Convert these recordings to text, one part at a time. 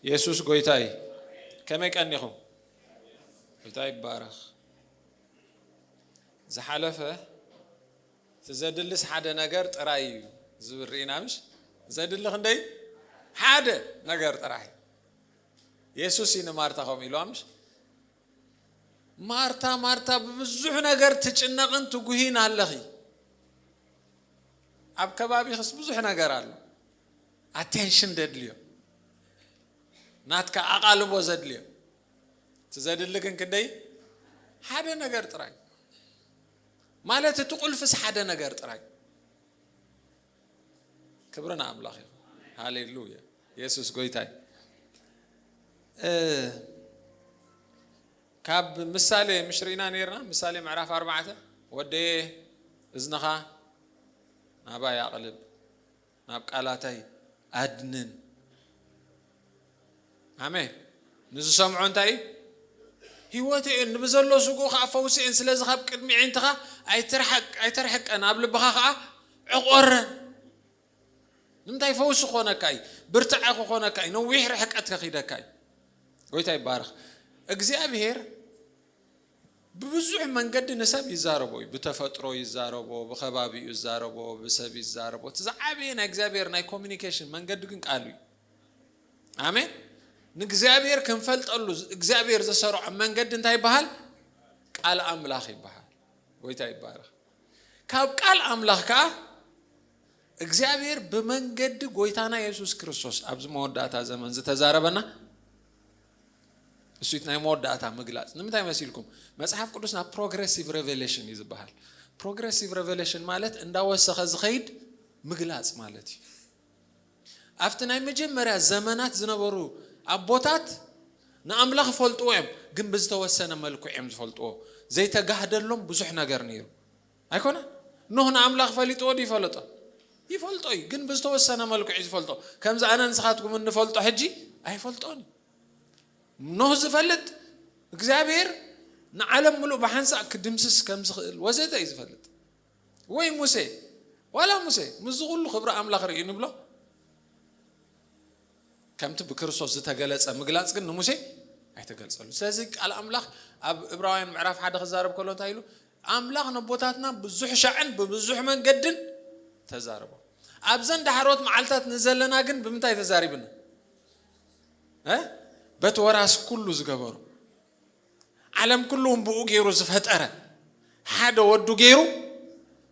የሱስ ጎይታ እዩ ከመይ ቀኒኹም ጎይታ ይባረኽ ዝሓለፈ እቲ ዘድልስ ሓደ ነገር ጥራይ እዩ ዝብል ርኢና ምሽ ዘድሊ ክንደይ ሓደ ነገር ጥራይ የሱስ እዩ ንማርታ ከምኡ ኢልዋ ምሽ ማርታ ማርታ ብብዙሕ ነገር ትጭነቕን ትጉሂን ኣለኺ ኣብ ከባቢኽስ ብዙሕ ነገር ኣሎ ኣቴንሽን ደድልዮ ናትካ ኣቓልቦ ዘድልዮ እቲ ዘድሊ ግን ክንደይ ሓደ ነገር ጥራይ ማለት እቲ ቁልፍስ ሓደ ነገር ጥራይ ክብሪ ንኣምላኽ ይኹን ሃሌሉያ የሱስ ጎይታይ ካብ ምሳሌ ምሽ ርኢና ነርና ምሳሌ ምዕራፍ ኣርባዕተ ወደየ እዝንኻ ናባይ ኣቕልብ ናብ ቃላታይ ኣድንን ኣሜን ንዝሰምዖ እንታይ እዩ ህይወት እየን ንብዘሎ ስግኡ ከዓ ፈውሲ እየን ስለዚ ካብ ቅድሚ ዒንትኻ ኣይትርሓቅ ኣይተርሕቀን ኣብ ልብኻ ከዓ ዕቆረን ንምንታይ ፈውሲ ክኾነካ እዩ ብርታዐ ክኾነካ እዩ ነዊሕ ርሕቀት ከኺደካ እዩ ጎይታ ይባረኽ እግዚኣብሄር ብብዙሕ መንገዲ ንሰብ ይዛረቦ እዩ። ብተፈጥሮ ይዛረቦ፣ ብኸባቢኡ ይዛረቦ፣ ብሰብ ይዛረቦ። እቲ ዝዓበየ ናይ እግዚኣብሔር ናይ ኮሚኒኬሽን መንገዲ ግን ቃሉ እዩ። ኣሜን። ንእግዚኣብሔር ክንፈልጠሉ እግዚኣብሔር ዝሰርዖ መንገዲ እንታይ ይበሃል? ቃል ኣምላኽ ይበሃል። ጎይታ ይባረኽ። ካብ ቃል ኣምላኽ ከዓ እግዚኣብሔር ብመንገዲ ጎይታና የሱስ ክርስቶስ ኣብዚ መወዳእታ ዘመን ዝተዛረበና እሱት ናይ መወዳእታ ምግላፅ ንምንታይ መሲልኩም መፅሓፍ ቅዱስና ፕሮግሬሲቭ ሬቨሌሽን እዩ ዝበሃል ፕሮግሬሲቭ ሬቨሌሽን ማለት እንዳወሰኸ ዝኸይድ ምግላፅ ማለት እዩ ኣብቲ ናይ መጀመርያ ዘመናት ዝነበሩ ኣቦታት ንኣምላኽ ይፈልጥዎ እዮም ግን ብዝተወሰነ መልክዑ እዮም ዝፈልጥዎ ዘይተጋህደሎም ብዙሕ ነገር ነይሩ ኣይኮነን። ኖህ ንኣምላኽ ፈሊጥዎ ድዩ ይፈለጦን? ይፈልጦ እዩ ግን ብዝተወሰነ መልክዑ እዩ ዝፈልጦ ከምዚ ኣነ ንስኻትኩም እንፈልጦ ሕጂ ኣይፈልጦን እዩ። ኖህ ዝፈልጥ እግዚኣብሔር ንዓለም ምሉእ ብሓንሳእ ክድምስስ ከም ዝኽእል ወዘተ እዩ ዝፈልጥ። ወይ ሙሴ ዋላ ሙሴ ምስዚ ኩሉ ክብሪ ኣምላኽ ርእዩ ንብሎ ከምቲ ብክርስቶስ ዝተገለጸ ምግላጽ ግን ንሙሴ ኣይተገልጸሉ። ስለዚ ቃል ኣምላኽ ኣብ እብራውያን ምዕራፍ ሓደ ክዛረብ ከሎ እንታይ ኢሉ ኣምላኽ ነቦታትና ብዙሕ ሻዕን ብብዙሕ መንገድን ተዛረቦም። ኣብዘን ዳሕሮት መዓልታት ንዘለና ግን ብምንታይ ተዛሪብና? እ በቲ ወራሲ ኩሉ ዝገበሮ ዓለም ኩሉ እውን ብኡ ገይሩ ዝፈጠረ ሓደ ወዱ ገይሩ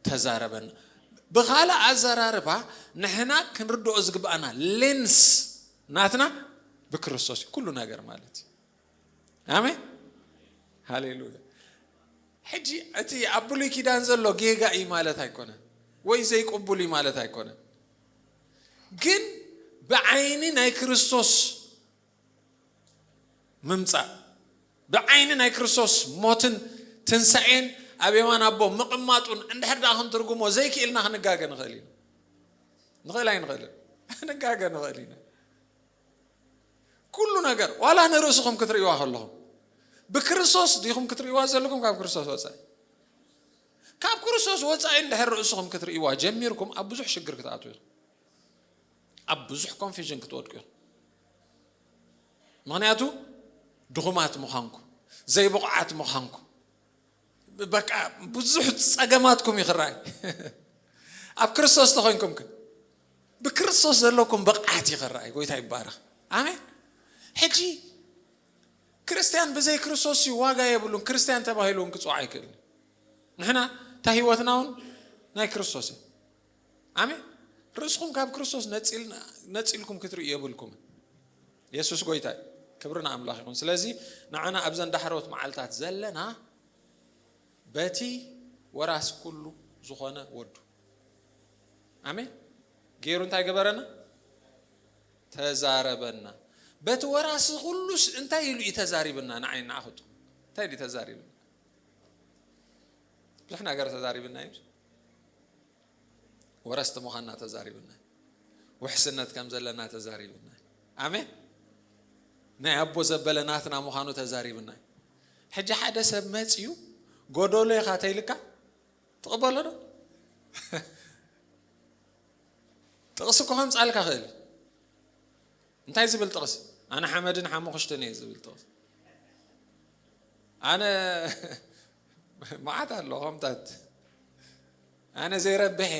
ተዛረበና። ብካልእ ኣዘራርባ ንሕና ክንርድኦ ዝግብኣና ሌንስ ናትና ብክርስቶስ እዩ ኩሉ ነገር ማለት እዩ። ኣሜን ሃሌሉያ ሕጂ እቲ ኣብ ብሉይ ኪዳን ዘሎ ጌጋ እዩ ማለት ኣይኮነን ወይ ዘይቅቡል እዩ ማለት ኣይኮነን ግን ብዓይኒ ናይ ክርስቶስ ምምፃእ ብዓይኒ ናይ ክርስቶስ ሞትን ትንሳኤን ኣብ የማን ኣቦ ምቕማጡን እንድሕር ደኣ ክንትርጉሞ ዘይክእልና ክንጋገ ንኽእል ኢና ንኽእል ኣይንኽእልን ንጋገ ንኽእል ኢና ኩሉ ነገር ዋላ ንርእስኹም ክትርእይዋ ከለኹም ብክርስቶስ ዲኹም ክትርእይዋ ዘለኩም ካብ ክርስቶስ ወፃኢ ካብ ክርስቶስ ወፃኢ እንድሕር ርእስኹም ክትርእይዋ ጀሚርኩም ኣብ ብዙሕ ሽግር ክትኣትዉ ኢኹም ኣብ ብዙሕ ኮንፊዥን ክትወድቁ ኢኹም ምክንያቱ ድኹማት ምዃንኩም ዘይብቑዓት ምዃንኩም በቃ ብዙሕ ጸገማትኩም እዩ ክረኣይ ኣብ ክርስቶስ ተኾይንኩም ግን ብክርስቶስ ዘለኩም ብቕዓት እዩ ክረኣይ ጎይታ ይባረኽ ኣሜን ሕጂ ክርስቲያን ብዘይ ክርስቶስ እዩ ዋጋ የብሉን ክርስቲያን ተባሂሉ እውን ክፅዋዕ ኣይክእልን ንሕና እታ ህይወትና እውን ናይ ክርስቶስ እዩ ኣሜን ርእስኹም ካብ ክርስቶስ ነጺልኩም ክትርእዩ የብልኩምን የሱስ ጎይታ እዩ ክብሪ ንኣምላኽ ይኹን ስለዚ ንዓና ኣብዘን ዳሕሮት መዓልታት ዘለና በቲ ወራስ ኩሉ ዝኾነ ወዱ ኣሜን ገይሩ እንታይ ገበረና ተዛረበና በቲ ወራሲ ኩሉስ እንታይ ኢሉ እዩ ተዛሪብና ንዓይ ንዓኹቱ እንታይ ኢሉ ተዛሪብና ብዙሕ ነገር ተዛሪብና እዩ ወረስቲ ምዃንና ተዛሪብና ውሕስነት ከም ዘለና ተዛሪብና ኣሜን ናይ ኣቦ ዘበለ ናትና ምዃኑ ተዛሪብና ሕጂ ሓደ ሰብ መፅዩ ጎደሎ ኢኻ ተይልካ ትቕበሎ ዶ ጥቕሲ እኮ ከምፃልካ ክእል እንታይ ዝብል ጥቕሲ ኣነ ሓመድን ሓሙኽሽትን እየ ዝብል ጥቕሲ ኣነ መዓት ኣሎ ከምታት ኣነ ዘይረብሐ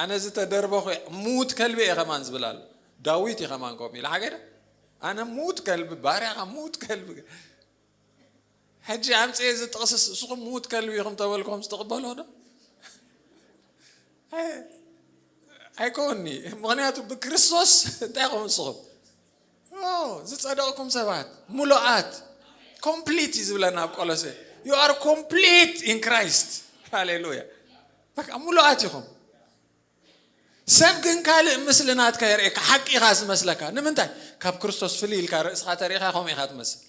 ኣነ ዝተደርበኹ ሙት ከልቢ እየ ከማን ዝብል ኣሎ ዳዊት እዩ ከማን ከምኡ ኢሉ ሓገደ ኣነ ሙት ከልቢ ባርያኻ ሙት ከልቢ ሕጂ ኣምፅኤ እዚ ጥቕሲ እስኹም ሙት ከልቢ ኢኹም ተበልኩም ዝተቕበሎ ዶ ኣይኮኒ ምክንያቱ ብክርስቶስ እንታይ ኹም እስኹም ን ዝጸደቕኩም ሰባት ምሉኣት ኮምፕሊት እዩ ዝብለና ኣብ ቆሎሴ ዩ ኣር ኮምፕሊት ኢን ክራይስት ሃሌሉያ በቃ ምሉኣት ኢኹም ሰብ ግን ካልእ ምስሊ ናትካ የርእየካ ሓቂ ኢኻ ዝመስለካ ንምንታይ ካብ ክርስቶስ ፍልይ ኢልካ ርእስኻ ተሪእኻ ከምኡ ኢኻ ትመስል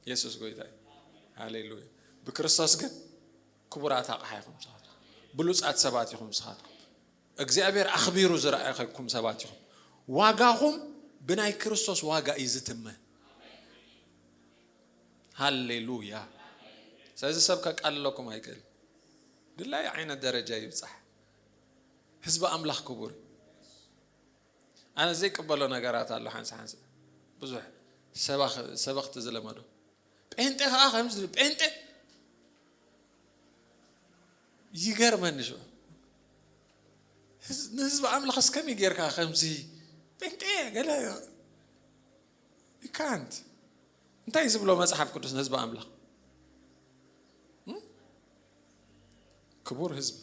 የሱስ ጎይታ እዩ ሃሌሉያ ብክርስቶስ ግን ክቡራት ኣቕሓ ኢኹም ስኻትኩም ብሉፃት ሰባት ኢኹም ስኻትኩም እግዚኣብሔር ኣኽቢሩ ዝረኣየኸኩም ሰባት ኢኹም። ዋጋኹም ብናይ ክርስቶስ ዋጋ እዩ ዝትመ። ሃሌሉያ። ስለዚ ሰብ ከቃልለኩም ኣይክእል። ድላይ ዓይነት ደረጃ ይብፃሕ። ህዝቢ ኣምላኽ ክቡር እዩ። ኣነ ዘይቅበሎ ነገራት ኣሎ ሓንሳ ሓንሳ ብዙሕ ሰበኽቲ ዝለመዶ ጴንጤ ከዓ ከምዚ ጴንጤ ይገርመኒ ሽዑ ንህዝቢ ኣምላኽስ ከመይ ጌርካ ከምዚ ጴንጤ ገለ ይካንት እንታይ ዝብሎ መጽሓፍ ቅዱስ ንህዝቢ ኣምላኽ ክቡር ህዝቢ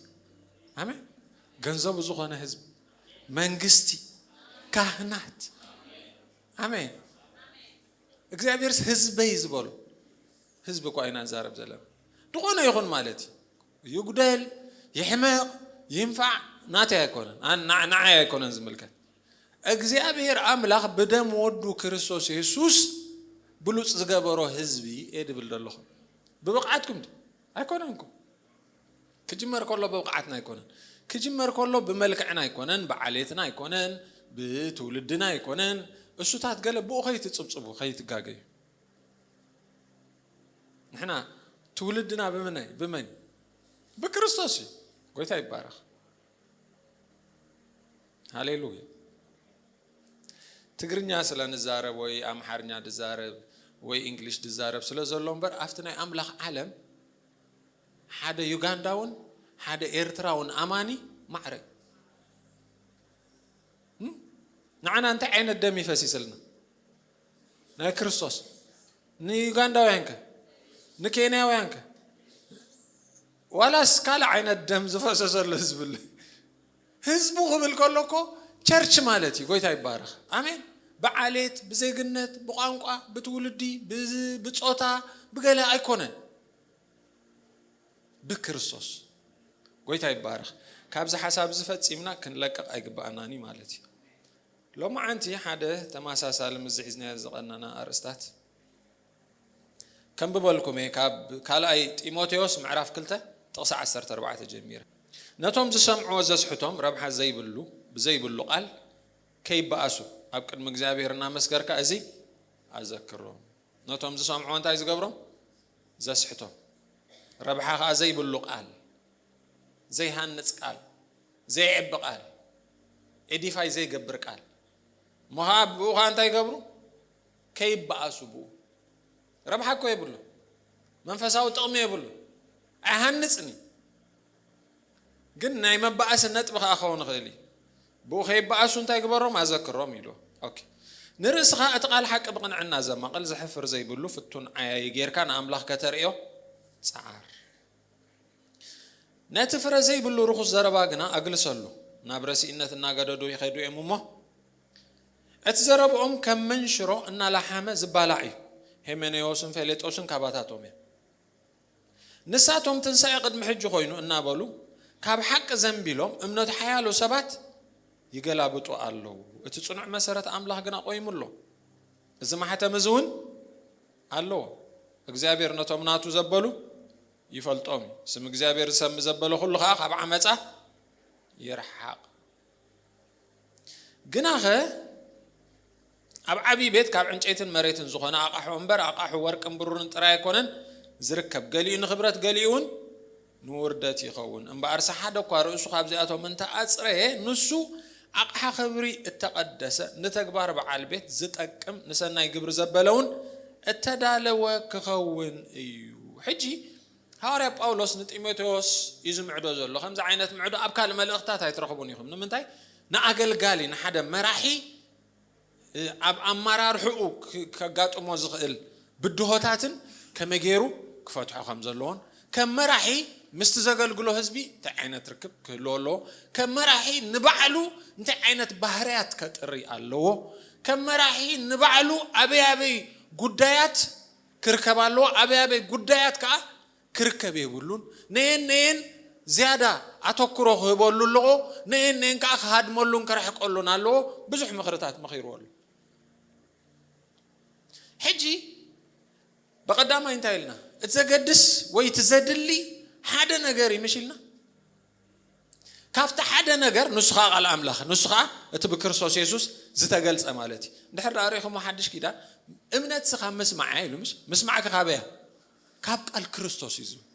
ኣሜን ገንዘቡ ዝኾነ ህዝቢ መንግስቲ ካህናት ኣሜን እግዚኣብሔርስ ህዝበይ ዝበሎ ህዝቢ እኳ ኢና ንዛረብ ዘለና ድኾነ ይኹን ማለት እዩ ይጉደል ይሕመቕ ይንፋዕ ናተይ ኣይኮነን ናዓይ ኣይኮነን ዝምልከት እግዚኣብሔር ኣምላኽ ብደም ወዱ ክርስቶስ የሱስ ብሉፅ ዝገበሮ ህዝቢ እየ ድብል ዘለኹ ብብቕዓትኩም ኣይኮነንኩም ክጅመር ከሎ ብብቕዓትና ኣይኮነን ክጅመር ከሎ ብመልክዕና ኣይኮነን ብዓሌትና ኣይኮነን ብትውልድና ኣይኮነን እሱታት ገለ ብኡ ከይትጽብጽቡ ከይትጋገዩ ንሕና ትውልድና ብምናይ ብመን ብክርስቶስ እዩ ጎይታ ይባረኽ ሃሌሉያ ትግርኛ ስለ ንዛረብ ወይ ኣምሓርኛ ድዛረብ ወይ እንግሊሽ ድዛረብ ስለ ዘሎ እምበር ኣብቲ ናይ ኣምላኽ ዓለም ሓደ ዩጋንዳውን ሓደ ኤርትራውን ኣማኒ ማዕረ እዩ። ንዓና እንታይ ዓይነት ደም ይፈሲስልና? ናይ ክርስቶስ። ንዩጋንዳውያን ከ ንኬንያውያን ከ ዋላስ ካልእ ዓይነት ደም ዝፈሰሰሉ ህዝቢ ኣሎ? ህዝቡ ክብል ከሎ እኮ ቸርች ማለት እዩ። ጎይታ ይባረኽ። ኣሜን። ብዓሌት፣ ብዜግነት፣ ብቋንቋ፣ ብትውልዲ፣ ብጾታ፣ ብገለ ኣይኮነን። ብክርስቶስ ጎይታ ይባረኽ ካብዚ ሓሳብ እዚ ፈፂምና ክንለቅቕ ኣይግባኣናን እዩ ማለት እዩ ሎማዓንቲ ሓደ ተመሳሳሊ ምዝ ሒዝናዮ ዝቐነና ኣርእስታት ከንብበልኩም እየ ካብ ካልኣይ ጢሞቴዎስ ምዕራፍ ክልተ ጥቕሲ ዓሰርተ ኣርባዕተ ጀሚረ ነቶም ዝሰምዕዎ ዘስሕቶም ረብሓ ዘይብሉ ብዘይብሉ ቃል ከይበኣሱ ኣብ ቅድሚ እግዚኣብሔር እናመስከርካ እዚ ኣዘክሮም ነቶም ዝሰምዑዎ እንታይ ዝገብሮም? ዘስሕቶም። ረብሓ ከኣ ዘይብሉ ቃል፣ ዘይሃንጽ ቃል፣ ዘየዕቢ ቃል፣ ኤዲፋይ ዘይገብር ቃል። እሞ ከኣ ብኡ ከኣ እንታይ ይገብሩ? ከይበኣሱ ብኡ። ረብሓ እኮ የብሉን። መንፈሳዊ ጥቕሚ የብሉን። ኣይሃንጽን እዩ። ግን ናይ መባኣሲ ነጥቢ ከኣ ክኸውን ይኽእል እዩ። ብኡ ከይባኣሱ እንታይ ግበሮም? ኣዘክሮም ኢሉ። ኦኬ። ንርእስኻ እቲ ቃል ሓቂ ብቕንዕና ዘማቕል ዘሕፍር ዘይብሉ ፍቱን ዓያዪ ጌርካ ንኣምላኽ ከተርእዮ ጸዓር። ነቲ ፍረ ዘይብሉ ርኹስ ዘረባ ግና ኣግልሰሉ። ናብ ረሲእነት እናገደዱ ይኸዱ እዮም እሞ እቲ ዘረብኦም ከም መንሽሮ እናላሓመ ዝባላዕ እዩ። ሄሜኔዎስን ፌሌጦስን ካባታቶም እዮም። ንሳቶም ትንሳኤ ቅድሚ ሕጂ ኮይኑ እናበሉ ካብ ሓቂ ዘንቢሎም እምነት ሓያሎ ሰባት ይገላብጡ ኣለዉ። እቲ ጽኑዕ መሰረት ኣምላኽ ግና ቆይሙ ኣሎ። እዚ ማሕተም እዚ እውን ኣለዎ። እግዚኣብሔር ነቶም ናቱ ዘበሉ ይፈልጦም እዩ። ስም እግዚኣብሔር ዝሰሚ ዘበለ ኩሉ ከኣ ካብ ዓመጻ ይርሓቕ። ግናኸ ኣብ ዓብዪ ቤት ካብ ዕንጨይትን መሬትን ዝኾነ ኣቓሑ እምበር ኣቓሑ ወርቅን ብሩርን ጥራይ ኣይኮነን ዝርከብ፣ ገሊኡ ንኽብረት ገሊኡ እውን ንውርደት ይኸውን። እምበኣርሲ ሓደ እኳ ርእሱ ካብዚኣቶም እንተ ኣጽረየ፣ ንሱ ኣቕሓ ኽብሪ እተቐደሰ፣ ንተግባር በዓል ቤት ዝጠቅም፣ ንሰናይ ግብሪ ዘበለ እውን እተዳለወ ኪኸውን እዩ። ሕጂ፣ ሃዋርያ ጳውሎስ ንጢሞቴዎስ እዩ ዝምዕዶ ዘሎ። ከምዚ ዓይነት ምዕዶ ኣብ ካልእ መልእኽትታት ኣይትረኽቡን ኢኹም። ንምንታይ? ንኣገልጋሊ፣ ንሓደ መራሒ ኣብ ኣመራርሕኡ ከጋጥሞ ዝኽእል ብድሆታትን ከመይ ገይሩ ክፈትሖ ከም ዘለዎን፣ ከም መራሒ ምስቲ ዘገልግሎ ህዝቢ እንታይ ዓይነት ርክብ ክህልዎ ኣለዎ፣ ከም መራሒ ንባዕሉ እንታይ ዓይነት ባህርያት ከጥሪ ኣለዎ፣ ከም መራሒ ንባዕሉ ኣበይ ኣበይ ጉዳያት ክርከብ ኣለዎ፣ ኣበይ ኣበይ ጉዳያት ከኣ ክርከብ የብሉን፣ ነየን ነየን ዝያዳ ኣተኩሮ ክህበሉ ኣለዎ፣ ነየን ነየን ከኣ ክሃድመሉን ክርሕቀሉን ኣለዎ፣ ብዙሕ ምኽርታት መኺርዎ ኣሎ። ሕጂ ብቐዳማይ እንታይ ኢልና፣ እቲ ዘገድስ ወይ እቲ ዘድሊ ሓደ ነገር እዩ ምሽ ኢልና? ካብቲ ሓደ ነገር ንሱ ኸኣ ቃል ኣምላኽ ንሱ ኸኣ እቲ ብክርስቶስ የሱስ ዝተገልጸ ማለት እዩ እንድሕር ደኣ ርኢኹሞ ሓድሽ ኪዳን እምነትሲ ካብ ምስማዕ እያ ኢሉ ምሽ ምስማዕከ ካበይ እያ ካብ ቃል ክርስቶስ እዩ ዝብል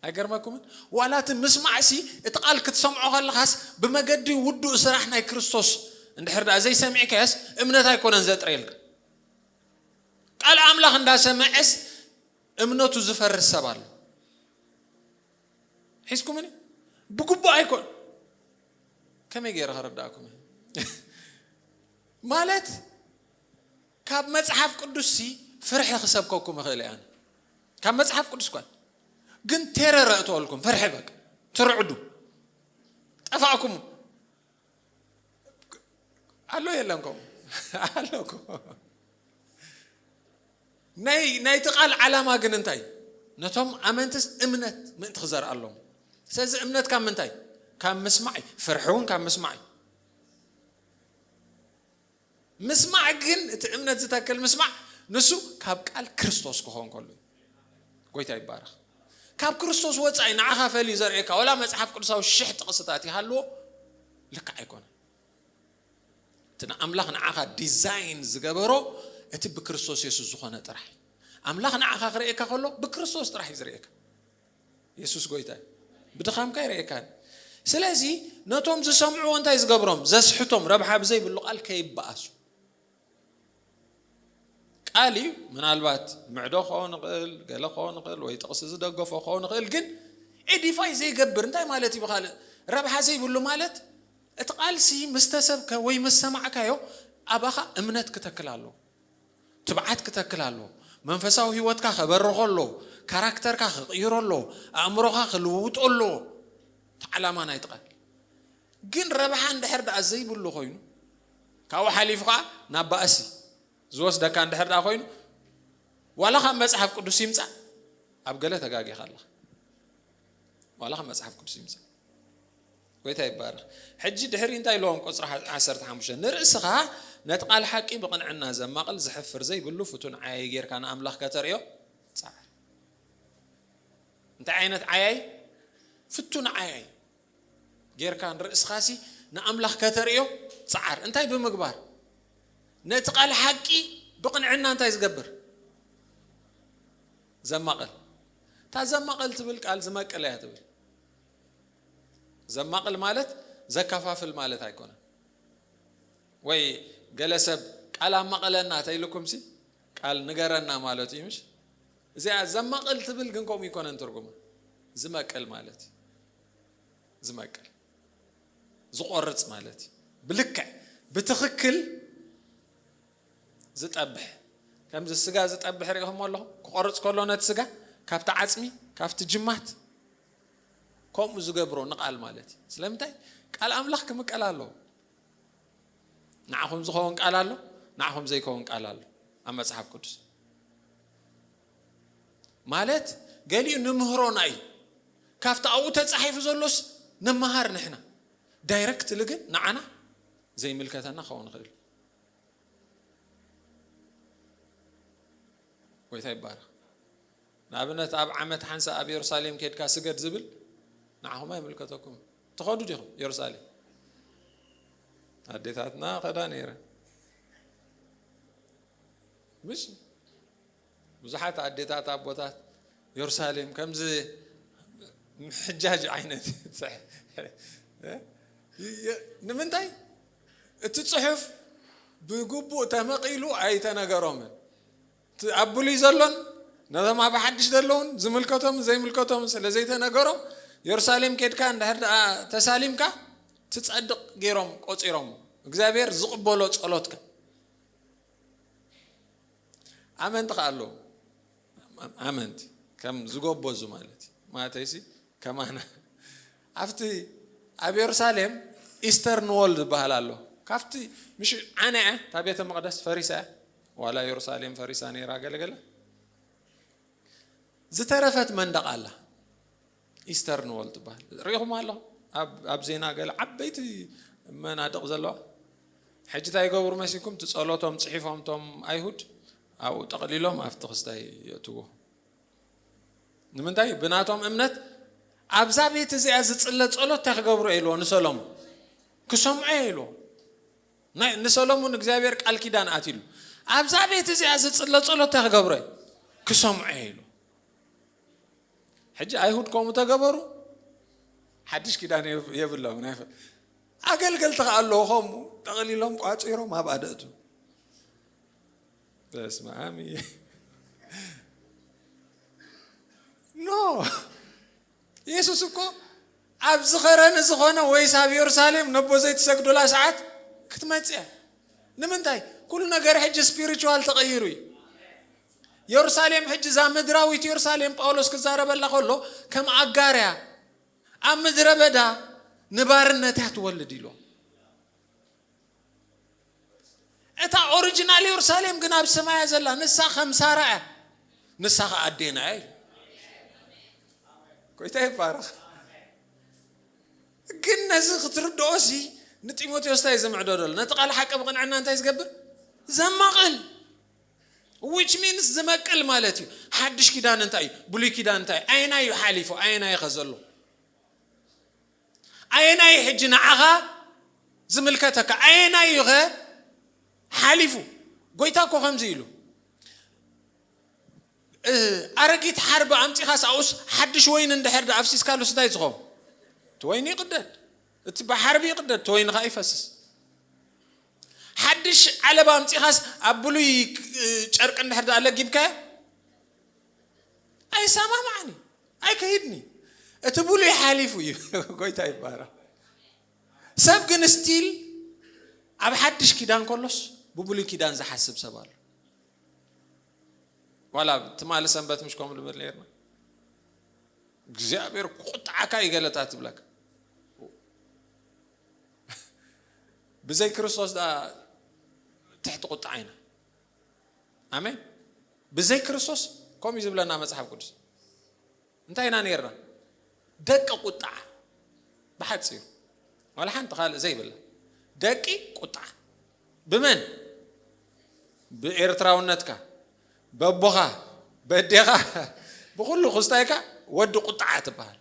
ኣይገርመኩምን ዋላ እቲ ምስማዕሲ እቲ ቃል ክትሰምዖ ከለኻስ ብመገዲ ውዱእ ስራሕ ናይ ክርስቶስ እንድሕር ደኣ ዘይሰሚዕካዮስ እምነት ኣይኮነን ዘጥርየልካ ቃል ኣምላኽ እንዳሰምዐስ እምነቱ ዝፈርስ ሰብ ኣሎ ሒዝኩምኒ ብግቡእ ኣይኮን ከመይ ገይረ ከረዳእኩም ማለት ካብ መጽሓፍ ቅዱስ ሲ ፍርሒ ክሰብከኩም ይኽእል እያ ካብ መጽሓፍ ቅዱስ ኳን ግን ቴረር ኣእትወልኩም ፍርሒ በቃ ትርዕዱ ጠፋእኩም ኣሎ የለን ከምኡ ኣሎ እኮ ናይ ናይቲ ቃል ዓላማ ግን እንታይ ነቶም ኣመንትስ እምነት ምእንቲ ክዘርኣሎም ስለዚ እምነት ካብ ምንታይ ካብ ምስማዕ ፍርሒ እውን ካብ ምስማዕ እዩ ምስማዕ ግን እቲ እምነት ዝተክል ምስማዕ ንሱ ካብ ቃል ክርስቶስ ክኾን ከሎ እዩ። ጎይታ ይባረኽ። ካብ ክርስቶስ ወጻኢ ንዓኻ ፈልዩ ዘርእየካ ወላ መጽሓፍ ቅዱሳዊ ሽሕ ጥቕስታት ይሃልዎ ልክዕ ኣይኮነን። እቲ ንኣምላኽ ንዓኻ ዲዛይን ዝገበሮ እቲ ብክርስቶስ የሱስ ዝኾነ ጥራሕ ኣምላኽ ንዓኻ ክርእየካ ከሎ ብክርስቶስ ጥራሕ እዩ ዝርእየካ። የሱስ ጎይታ እዩ ብድኻምካ ይርእየካን ስለዚ ነቶም ዝሰምዕዎ እንታይ ዝገብሮም ዘስሕቶም ረብሓ ብዘይብሉ ቃል ከይበኣሱ ቃል እዩ ምናልባት ምዕዶ ክኸውን ይኽእል ገለ ክኸውን ይኽእል ወይ ጥቕሲ ዝደገፎ ክኸውን ይኽእል ግን ኤዲፋይ ዘይገብር እንታይ ማለት እዩ ብካልእ ረብሓ ዘይብሉ ማለት እቲ ቃልሲ ምስ ተሰብከ ወይ ምስ ሰማዕካዮ ኣባኻ እምነት ክተክል ኣለዎ ትብዓት ክተክል ኣለዎ። መንፈሳዊ ህይወትካ ከበርኾ ኣለዎ። ካራክተርካ ክቕይሮ ኣለዎ። ኣእምሮኻ ክልውጦ ኣለዎ። እቲ ዓላማ ናይቲ ቃል ግን ረብሓ እንድሕር ደኣ ዘይብሉ ኮይኑ ካብኡ ሓሊፉ ከዓ ናብ ባእሲ ዝወስደካ እንድሕር ደኣ ኮይኑ ዋላ ካብ መጽሓፍ ቅዱስ ይምጻእ ኣብ ገለ ተጋጊኻ ኣለኻ ዋላ ካብ መጽሓፍ ቅዱስ ይምጻእ ጎይታ ይባረኽ ሕጂ ድሕሪ እንታይ ኢልዎም ቁጽሪ ዓሰርተ ሓሙሽተ ንርእስኻ ነቲ ቃል ሓቂ ብቕንዕና ዘማቕል ዝሕፍር ዘይብሉ ፍቱን ዓያይ ጌርካ ንኣምላኽ ከተርእዮ ጻዕር እንታይ ዓይነት ዓያይ ፍቱን ዓያይ ጌርካ ንርእስኻ ሲ ንኣምላኽ ከተርእዮ ጻዕር እንታይ ብምግባር ነቲ ቃል ሓቂ ብቕንዕና እንታይ ዝገብር ዘማቕል እታ ዘማቕል ትብል ቃል ዝመቅል እያ ትብል ዘማቕል ማለት ዘካፋፍል ማለት ኣይኮነን። ወይ ገለ ሰብ ቃል ኣማቐለና ተይልኩምሲ ቃል ንገረና ማለት እዩ ምሽ እዚኣ ዘማቕል ትብል ግን ከምኡ ይኮነን ትርጉማ ዝመቅል ማለት እዩ ዝመቅል ዝቆርፅ ማለት እዩ ብልክዕ ብትኽክል ዝጠብሕ ከምዚ ስጋ ዝጠብሕ ሪኢኹሞ ኣለኹም ክቆርፅ ከሎ ነቲ ስጋ ካብቲ ዓፅሚ ካብቲ ጅማት ከምኡ ዝገብሮ ንቓል ማለት እዩ ስለምንታይ ቃል ኣምላኽ ክምቀል ኣሎ ንዓኹም ዝኸውን ቃል ኣሎ ንዓኹም ዘይከውን ቃል ኣሎ ኣብ መጽሓፍ ቅዱስ ማለት ገሊኡ ንምህሮና እዩ ካብቲ ኣብኡ ተጻሒፉ ዘሎስ ንመሃር ንሕና ዳይረክትሊ ግን ንዓና ዘይምልከተና ክኸውን ይኽእል ጎይታ ይባረኽ ንኣብነት ኣብ ዓመት ሓንሳእ ኣብ የሩሳሌም ኬድካ ስገድ ዝብል ንዓኹም ኣይምልከተኩምን። ትኸዱ ዲኹም የሩሳሌም? ኣዴታትና ይኸዳ ነይረን። ምሽ ብዙሓት ኣዴታት ኣቦታት የሩሳሌም ከምዚ ምሕጃጅ ዓይነት ንምንታይ እቲ ጽሑፍ ብግቡእ ተመቒሉ ኣይተነገሮምን። እቲ ኣብ ብሉይ ዘሎን ነቶም ኣብ ሓድሽ ዘለዉን ዝምልከቶምን ዘይምልከቶምን ስለ ዘይተነገሮም የሩሳሌም ኬድካ እንድሕር ደኣ ተሳሊምካ ትጸድቕ ገይሮም ቆጺሮም እግዚኣብሔር ዝቕበሎ ጸሎትካ ኣመንቲ ከ ኣለዉ ኣመንቲ ከም ዝጎበዙ ማለት እዩ ማለተይሲ ከማና ኣብቲ ኣብ የሩሳሌም ኢስተርን ዎል ዝበሃል ኣሎ። ካብቲ ምሽ ዓነ እያ እታ ቤተ መቕደስ ፈሪሳ እያ፣ ዋላ የሩሳሌም ፈሪሳ ነይራ ገለ ገለ ዝተረፈት መንደቕ ኣላ ኢስተርን ዎል ትበሃል። ርኢኹም ኣለኹ ኣብ ዜና ገለ ዓበይቲ መናድቕ ዘለዋ ሕጂ እንታይ ይገብሩ መሲልኩም? እቲ ጸሎቶም ጽሒፎም እቶም ኣይሁድ ኣብኡ ጠቕሊሎም ኣብቲ ክስታይ የእትዎ። ንምንታይ እዩ ብናቶም እምነት ኣብዛ ቤት እዚኣ ዝጽለ ጸሎት እንታይ ክገብሮ እየ ኢልዎ ንሰሎሙን ክሰምዖ እየ ኢልዎ ንሰሎሙን እግዚኣብሔር ቃል ኪዳን ኣትሉ ኣብዛ ቤት እዚኣ ዝጽለ ጸሎት እንታይ ክገብሮ እየ ክሰምዖ እየ ኢሉ ሕጂ ኣይሁድ ከምኡ ተገበሩ ሓድሽ ኪዳን የብሎም ናይ ኣገልገልቲ ከ ኣለዉ ከምኡ ጠቕሊሎም ቋፂሮም ኣብ ኣደእቱ በስመኣም እየ ኖ የሱስ እኮ ኣብ ዝኸረን ዝኾነ ወይስ ኣብ የሩሳሌም ነቦ ዘይትሰግዱላ ሰዓት ክትመፅ እያ ንምንታይ ኩሉ ነገር ሕጂ ስፒሪቹዋል ተቐይሩ እዩ የሩሳሌም ሕጂ እዛ ምድራዊት የሩሳሌም ጳውሎስ ክዛረበላ ከሎ ከም ኣጋር እያ ኣብ ምድረ በዳ ንባርነት እያ ትወልድ ኢሎም እታ ኦሪጂናል የሩሳሌም ግን ኣብ ሰማይ እያ ዘላ ንሳ ከም ሳራ እያ ንሳ ከዓ ኣዴና እያ ጎይታ ይባረኽ ግን ነዚ ክትርድኦ ሲ ንጢሞቴዎስ እንታይ ዘምዕደደሉ ነቲ ቃል ሓቂ ብቕንዕና እንታይ ዝገብር ዘማቕል ዊች ሚንስ ዝመቅል ማለት እዩ ሓድሽ ኪዳን እንታይ እዩ ብሉይ ኪዳን እንታይ እዩ ኣየና እዩ ሓሊፉ ኣየና እዩ ከዘሎ ኣየናይ እዩ ሕጂ ንዓኻ ዝምልከተካ? ኣየናይ እዩኸ ሓሊፉ? ጐይታ እኮ ከምዚ ኢሉ፣ ኣረጊት ሓርቢ ኣምጺኻስ ኣብኡስ ሓድሽ ወይኒ እንድሕር ደኣ ኣፍሲስካሉስ እንታይ ዝኸውን? እቲ ወይኒ ይቕደድ፣ እቲ ብሓርቢ ይቕደድ፣ እቲ ወይኒ ኸኣ ይፈስስ። ሓድሽ ዓለባ ኣምጺኻስ ኣብ ብሉይ ጨርቂ እንድሕር ደኣ ለጊብካዮ ኣይሰማማዕን እዩ ኣይከይድን እዩ እቲ ብሉይ ሓሊፉ እዩ ጎይታ ይባሃራ ሰብ ግን ስቲል ኣብ ሓድሽ ኪዳን ከሎስ ብብሉይ ኪዳን ዝሓስብ ሰብ ኣሎ ዋላ ትማሊ ሰንበት ምሽ ከምኡ ንብል ነርና እግዚኣብሔር ክቁጣዓካ እዩ ገለታ ትብለካ ብዘይ ክርስቶስ ትሕቲ ቁጣዓ ኢና ኣሜን ብዘይ ክርስቶስ ከምኡ እዩ ዝብለና መጽሓፍ ቅዱስ እንታይ ኢና ነርና ደቂ ቁጣዓ ብሓፂሩ ዋላ ሓንቲ ካልእ ዘይብላ ደቂ ቁጣዓ ብመን ብኤርትራውነትካ በቦኻ በዴኻ ብኩሉ ክስታይካ ወዲ ቁጣዓ ትበሃል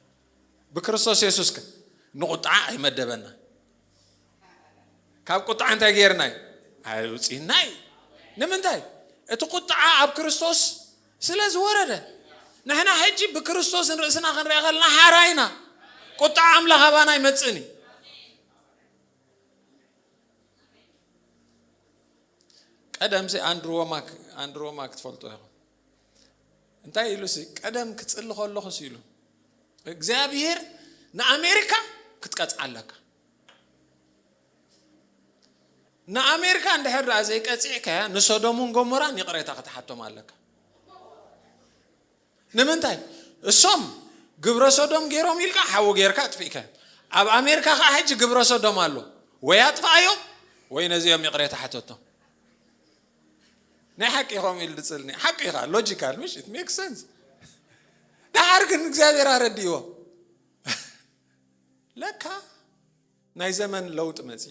ብክርስቶስ የሱስከ ንቁጣዓ ኣይመደበና ካብ ቁጥዓ እንታይ ገይርና እዩ ኣይውፅና እዩ ንምንታይ እቲ ቁጥዓ ኣብ ክርስቶስ ስለ ዝወረደ ንሕና ሕጂ ብክርስቶስ ንርእስና ክንሪኣ ከለና ሓራይና ቁጥዓ ኣምላኽ ኣባና ይመፅእን እዩ ቀደምሲ ኣንድሮማክ ኣንድሮማክ ትፈልጦ ኢኹም እንታይ ኢሉ ሲ ቀደም ክጽሊ ከለኹ ሲ ኢሉ እግዚኣብሔር ንኣሜሪካ ክትቀጽዓ ኣለካ ንኣሜሪካ እንድሕር ደኣ ዘይቀጺዕካያ ንሶዶሙን ጎሞራን ይቕሬታ ክትሓቶም ኣለካ ንምንታይ እሶም ግብረ ሶዶም ገይሮም ኢልካ ሓዊ ገይርካ ኣጥፊእካ ኣብ ኣሜሪካ ከዓ ሕጂ ግብረ ሶዶም ኣሎ ወይ ኣጥፍኣዮ ወይ ነዚኦም ይቕሬታ ሓተቶም ናይ ሓቂ ከምኡ ኢሉ ድጽልኒ ሓቂ ኢኻ ሎጂካል ምሽ ኢት ሜክ ሰንስ ደሓር ግን እግዚኣብሔር ኣረድእዎ ለካ ናይ ዘመን ለውጢ መጺ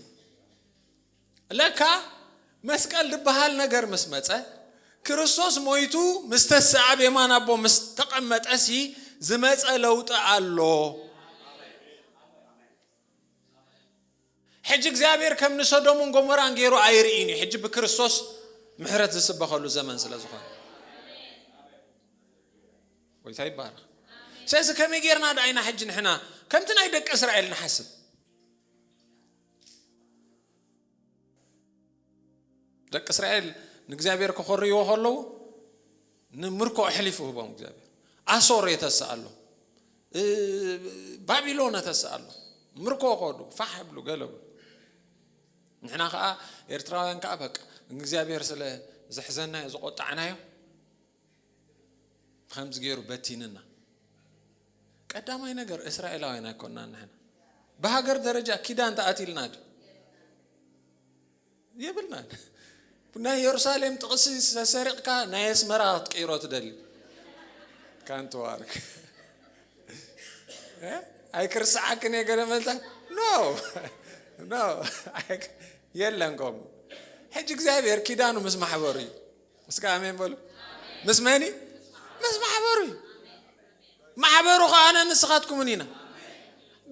ለካ መስቀል ድበሃል ነገር ምስ መጸ ክርስቶስ ሞይቱ ምስ ተስኣ ኣብ የማን ኣቦ ምስ ተቐመጠሲ ዝመጸ ለውጢ ኣሎ ሕጂ እግዚኣብሔር ከም ንሰዶምን ጎሞራን ገይሩ ኣይርእይን እዩ ሕጂ ብክርስቶስ ምሕረት ዝስበኸሉ ዘመን ስለ ዝኾነ ጎይታ ይባረኽ ስለዚ ከመይ ጌርና ደኣ ኢና ሕጂ ንሕና ከምቲ ናይ ደቂ እስራኤል ንሓስብ ደቂ እስራኤል ንእግዚኣብሔር ከኾርይዎ ከለዉ ንምርኮ ኣሕሊፉ ህቦም እግዚኣብሔር ኣሶር የተስኣሎም ባቢሎን የተስኣሎም ምርኮ ከዱ ፋሕ ብሉ ገለ ብሉ ንሕና ከዓ ኤርትራውያን ከዓ በቃ ንእግዚኣብሔር ስለ ዘሕዘናዮ ዝቆጣዕናዮ ከምዚ ገይሩ በቲንና። ቀዳማይ ነገር እስራኤላውያን ኣይኮናን ንሕና ብሃገር ደረጃ ኪዳን ተኣትልና ድ የብልናን ናይ የሩሳሌም ጥቕሲ ሰሰሪቕካ ናይ ኣስመራ ክትቅይሮ ትደሊ ካንት ዋርክ ኣይክርስዓክን እየ ገለ መልታ ኖ ኖ የለን ከምኡ ሕጂ እግዚኣብሔር ኪዳኑ ምስ ማሕበሩ እዩ እስከ ኣሜን በሉ ምስ መን እዩ ምስ ማሕበሩ እዩ ማሕበሩ ከኣነ ንስኻትኩምን ኢና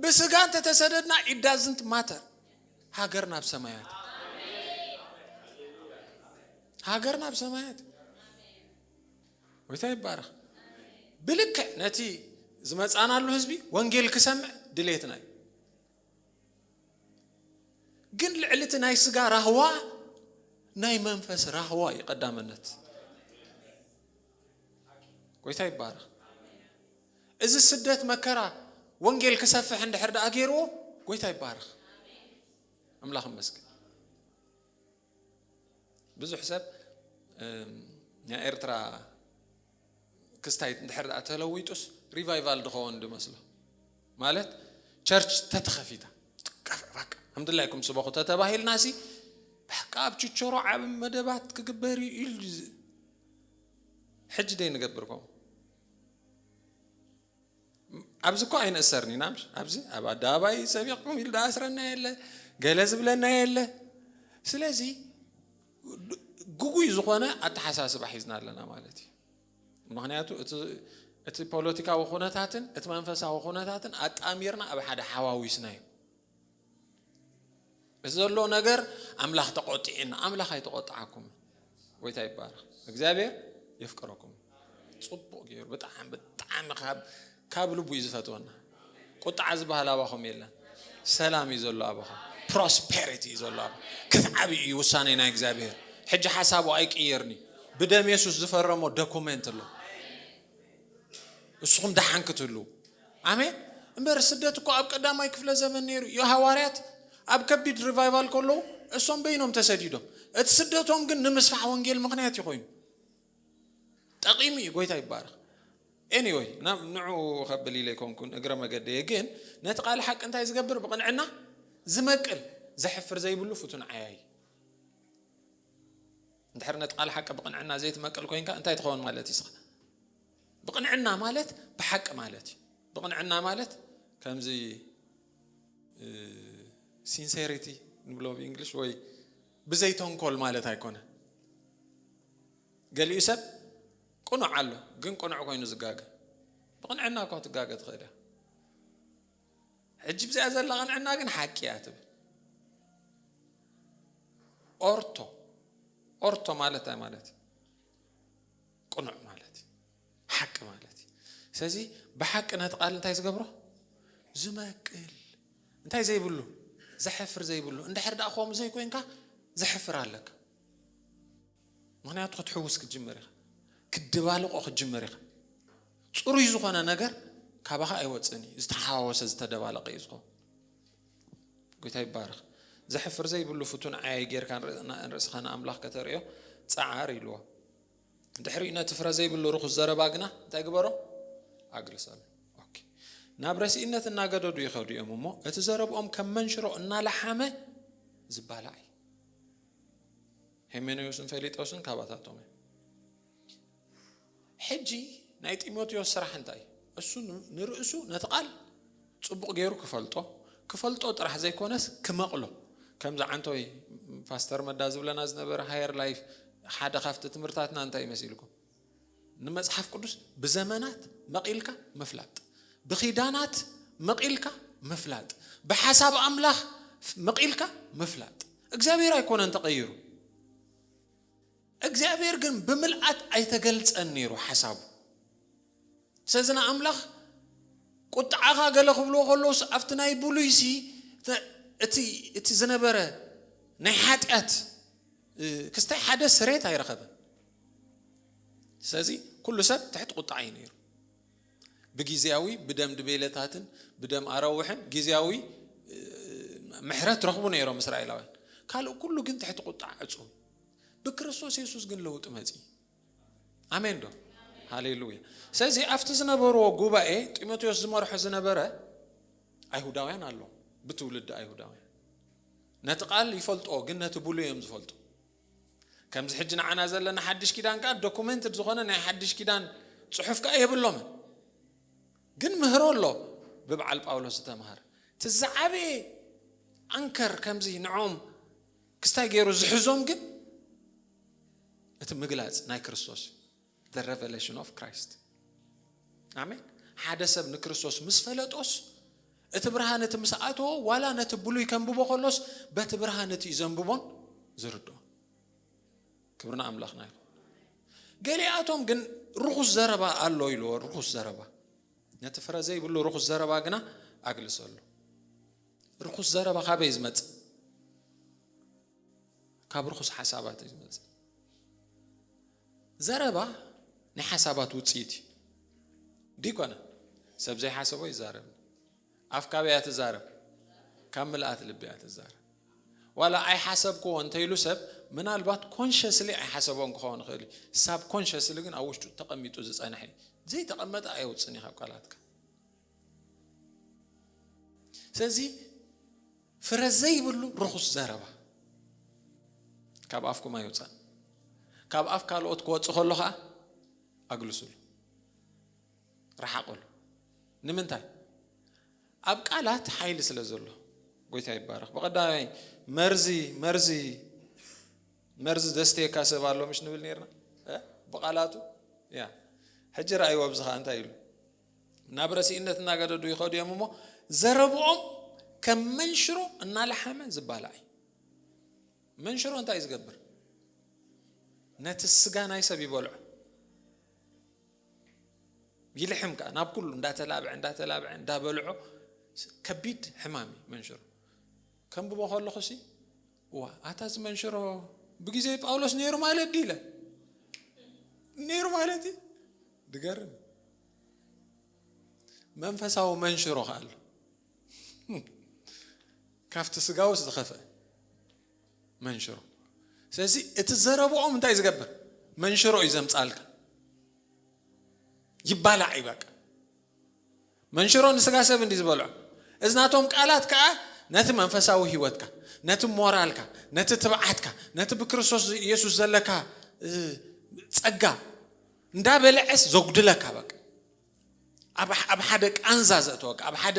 ብስጋ እንተተሰደድና ኢዳዝንት ማተር ሃገር ናብ ሰማያት ሃገር ናብ ሰማያት ወይታ ይባረኽ ብልክዕ ነቲ ዝመፃናሉ ህዝቢ ወንጌል ክሰምዕ ድሌትና እዩ ግን ልዕሊ እቲ ናይ ስጋ ራህዋ ናይ መንፈስ ራህዋ እዩ ቀዳምነት። ጎይታ ይባረኽ። እዚ ስደት መከራ ወንጌል ክሰፍሕ እንድሕር ደኣ ገይርዎ ጎይታ ይባረኽ። ኣምላኽ ይመስገን። ብዙሕ ሰብ ናይ ኤርትራ ክስታይ እንድሕር ደኣ ተለዊጡስ ሪቫይቫል ድኸውን ድመስሎ ማለት ቸርች ተተኸፊታ ኣምድላይ ኩም ስበኹ ተተባሂልና ሲ ብሓቂ ኣብ ችቸሮ ዓብ መደባት ክግበር እዩ ኢሉ ሕጂ ደይ ንገብር ከምኡ ኣብዚ እኮ ኣይንእሰርን ኢና ኣብዚ ኣብ ኣደባባይ ሰቢቕኩም ኢሉ ዳኣስረና የለ ገለ ዝብለና የለ ስለዚ ግጉይ ዝኾነ ኣተሓሳስባ ሒዝና ኣለና ማለት እዩ ምክንያቱ እቲ ፖለቲካዊ ኩነታትን እቲ መንፈሳዊ ኩነታትን ኣጣሚርና ኣብ ሓደ ሓዋዊስና እዩ እዚ ዘሎ ነገር ኣምላኽ ተቆጢዕና፣ ኣምላኽ ኣይተቆጣዓኩም። ጎይታ ይባረኽ። እግዚኣብሔር የፍቅረኩም ጽቡቅ ገይሩ ብጣዕሚ ብጣዕሚ ካብ ልቡ እዩ ዝፈትወና። ቁጣዓ ዝበሃል ኣባኹም የለን። ሰላም እዩ ዘሎ ኣባኹም፣ ፕሮስፐሪቲ እዩ ዘሎ ኣባ ክትዓብ እዩ ውሳኔ ናይ እግዚኣብሔር። ሕጂ ሓሳቡ ኣይቅየርኒ ብደም የሱስ ዝፈረሞ ዶኩመንት ኣሎ። ንስኹም ደሓን ክትህልዉ ኣሜን እምበር ስደት እኮ ኣብ ቀዳማይ ክፍለ ዘመን ነይሩ እዩ ሃዋርያት ኣብ ከቢድ ሪቫይቫል ከለዉ እሶም በይኖም ተሰዲዶም እቲ ስደቶም ግን ንምስፋሕ ወንጌል ምክንያት እዩ ኮይኑ ጠቂሙ እዩ ጎይታ ይባረክ ኤኒወይ ናብ ንዑ ከብል ኢለ ይኮንኩን እግረ መገደየ ግን ነቲ ቃል ሓቂ እንታይ ዝገብር ብቕንዕና ዝመቅል ዘሕፍር ዘይብሉ ፍቱን ዓያይ እንድሕር ነቲ ቃል ሓቂ ብቅንዕና ዘይትመቅል ኮይንካ እንታይ ትኸውን ማለት እዩ ስኻ ብቅንዕና ማለት ብሓቂ ማለት እዩ ብቅንዕና ማለት ከምዚ ሲንሴሪቲ ንብሎ ብእንግሊሽ ወይ ብዘይ ተንኮል ማለት ኣይኮነ ገሊኡ ሰብ ቅኑዕ ኣሎ ግን ቅኑዕ ኮይኑ ዝጋገ ብቕንዕና እኳ ትጋገ ትኽእል እያ ሕጂ ብዚኣ ዘላ ቐንዕና ግን ሓቂ እያ ትብል ኦርቶ ኦርቶ ማለት ታይ ማለት እዩ ቅኑዕ ማለት እዩ ሓቂ ማለት እዩ ስለዚ ብሓቂ ነቲ ቃል እንታይ ዝገብሮ ዝመቅል እንታይ ዘይብሉ ዘሕፍር ዘይብሉ እንድሕር ደኣ ከምኡ ዘይኮይንካ ዘሕፍር ኣለካ ምክንያቱ ክትሕውስ ክትጅምር ኢኻ ክትደባልቆ ክትጅምር ኢኻ ጽሩይ ዝኾነ ነገር ካባኻ ኣይወጽእን እዩ ዝተሓዋወሰ ዝተደባለቀ እዩ ዝኸውን ጎይታ ይባረኽ ዘሕፍር ዘይብሉ ፍቱን ዓያይ ጌርካ ንርእስኻ ንኣምላኽ ከተርእዮ ጸዓር ኢልዎ ድሕሪኡ ነቲ ፍረ ዘይብሉ ርኹስ ዘረባ ግና እንታይ ግበሮ ኣግርሰሉ ናብ ረሲእነት እናገደዱ ይኸዱ እዮም እሞ እቲ ዘረብኦም ከም መንሽሮ እናላሓመ ዝበላዕ እዩ ሄሜኔዎስን ፌሊጦስን ካባታቶም እዩ ሕጂ ናይ ጢሞቴዎስ ስራሕ እንታይ እዩ? እሱ ንርእሱ ነቲ ቃል ጽቡቕ ገይሩ ክፈልጦ ክፈልጦ ጥራሕ ዘይኮነስ ክመቕሎ ከምዚ ዓንቶይ ፓስተር መዳ ዝብለና ዝነበረ ሃየር ላይፍ ሓደ ካብቲ ትምህርታትና እንታይ መሲልኩም ንመጽሓፍ ቅዱስ ብዘመናት መቒልካ ምፍላጥ ብኺዳናት መቒልካ ምፍላጥ ብሓሳብ ኣምላኽ መቒልካ ምፍላጥ እግዚኣብሔር ኣይኮነን ተቐይሩ እግዚኣብሔር ግን ብምልኣት ኣይተገልጸን ነይሩ ሓሳቡ ስለዚ ንኣምላኽ ቁጥዓኻ ገለ ክብልዎ ከለውስ ኣብቲ ናይ ብሉይሲ እቲ እቲ ዝነበረ ናይ ሓጢኣት ክስታይ ሓደ ስሬት ኣይረኸበን ስለዚ ኩሉ ሰብ ትሕቲ ቁጥዓ እዩ ነይሩ ብጊዜያዊ ብደም ድቤለታትን ብደም ኣራውሕን ጊዜያዊ ምሕረት ረኽቡ ነይሮም እስራኤላውያን። ካልእ ኩሉ ግን ትሕቲ ቁጣዕ ዕጹም። ብክርስቶስ የሱስ ግን ለውጢ መጺ። ኣሜን ዶ? ሃሌሉያ። ስለዚ ኣብቲ ዝነበርዎ ጉባኤ ጢሞቴዎስ ዝመርሖ ዝነበረ ኣይሁዳውያን ኣሎ ብትውልዲ ኣይሁዳውያን ነቲ ቃል ይፈልጦ ግን ነቲ ብሉ እዮም ዝፈልጡ ከምዚ ሕጂ ንዓና ዘለና ሓድሽ ኪዳን ከኣ ዶኩመንትድ ዝኾነ ናይ ሓድሽ ኪዳን ጽሑፍ ከኣ የብሎምን ግን ምህሮ ኣሎ ብብዓል ጳውሎስ ዝተምሃር እቲ ዝዓበየ ኣንከር ከምዚ ንዖም ክስታይ ገይሩ ዝሕዞም ግን እቲ ምግላጽ ናይ ክርስቶስ እዩ the revelation of Christ ኣሜን ሓደ ሰብ ንክርስቶስ ምስ ፈለጦስ እቲ ብርሃን እቲ ምስ ኣተዎ ዋላ ነቲ ብሉይ ከንብቦ ከሎስ በቲ ብርሃን እቲ እዩ ዘንብቦን ዝርድኦ ክብርና ኣምላኽና ይኹን ገሊኣቶም ግን ርኹስ ዘረባ ኣሎ ኢልዎ ርኹስ ዘረባ ነቲ ፍረ ዘይብሉ ርኹስ ዘረባ ግና ኣግልሰሉ ርኹስ ዘረባ ካበይ ዝመፅእ ካብ ርኹስ ሓሳባት እዩ ዝመፅእ ዘረባ ናይ ሓሳባት ውጽኢት እዩ ድዩ ኮነ ሰብ ዘይሓሰቦ ይዛረብ ኣፍ ካበይ እያ ትዛረብ ካብ ምልኣት ልቢ እያ ትዛረብ ዋላ ኣይሓሰብክዎ እንተይሉ ሰብ ምናልባት ኮንሸስሊ ኣይሓሰቦን ክኸውን ይኽእል እዩ ሳብ ኮንሸስሊ ግን ኣብ ውሽጡ ተቐሚጡ ዝጸንሐ እዩ ዘይተቐመጠ ኣየውጽን እዩ ካብ ቃላትካ ስለዚ ፍረ ዘይብሉ ርኹስ ዘረባ ካብ ኣፍኩም ኣይውፃእ ካብ ኣፍ ካልኦት ክወፅ ከሎ ከዓ ኣግልሱሉ ረሓቕሉ ንምንታይ ኣብ ቃላት ሓይሊ ስለ ዘሎ ጎይታ ይባረኽ ብቐዳማይ መርዚ መርዚ መርዚ ዘስተየካ ሰብ ኣሎ ምሽ ንብል ነርና ብቓላቱ ያ ሕጂ ረኣይዎ ኣብዝኻ እንታይ ኢሉ ናብ ረሲእነት እናገደዱ ይኸዱ እዮም እሞ ዘረብኦም ከም መንሽሮ እናለሓመ ዝባላዕ እዩ መንሽሮ እንታይ እዩ ዝገብር ነቲ ስጋ ናይ ሰብ ይበልዑ ይልሕም ከዓ ናብ ኩሉ እንዳተላብዐ እንዳተላብዐ እንዳበልዖ ከቢድ ሕማም እዩ መንሽሮ ከንብቦ ከለኹ ሲ እዋ ኣታ እዚ መንሽሮ ብግዜ ጳውሎስ ነይሩ ማለት ድዩ ኢለ ነይሩ ማለት እዩ ድገርም መንፈሳዊ መንሽሮ ከ ኣሎ ካብቲ ስጋውስ ዝኸፍአ መንሽሮ ስለዚ እቲ ዘረብኦም እንታይ ዝገብር መንሽሮ እዩ ዘምፃልካ ይባላዕ እዩ በቃ መንሽሮ ንስጋ ሰብ እንዲ ዝበልዖ እዚ ናቶም ቃላት ከኣ ነቲ መንፈሳዊ ህይወትካ ነቲ ሞራልካ ነቲ ትብዓትካ ነቲ ብክርስቶስ ኢየሱስ ዘለካ ጸጋ እንዳበልዐስ ዘጉድለካ በቃ ኣብ ሓደ ቃንዛ ዘእተወካ ኣብ ሓደ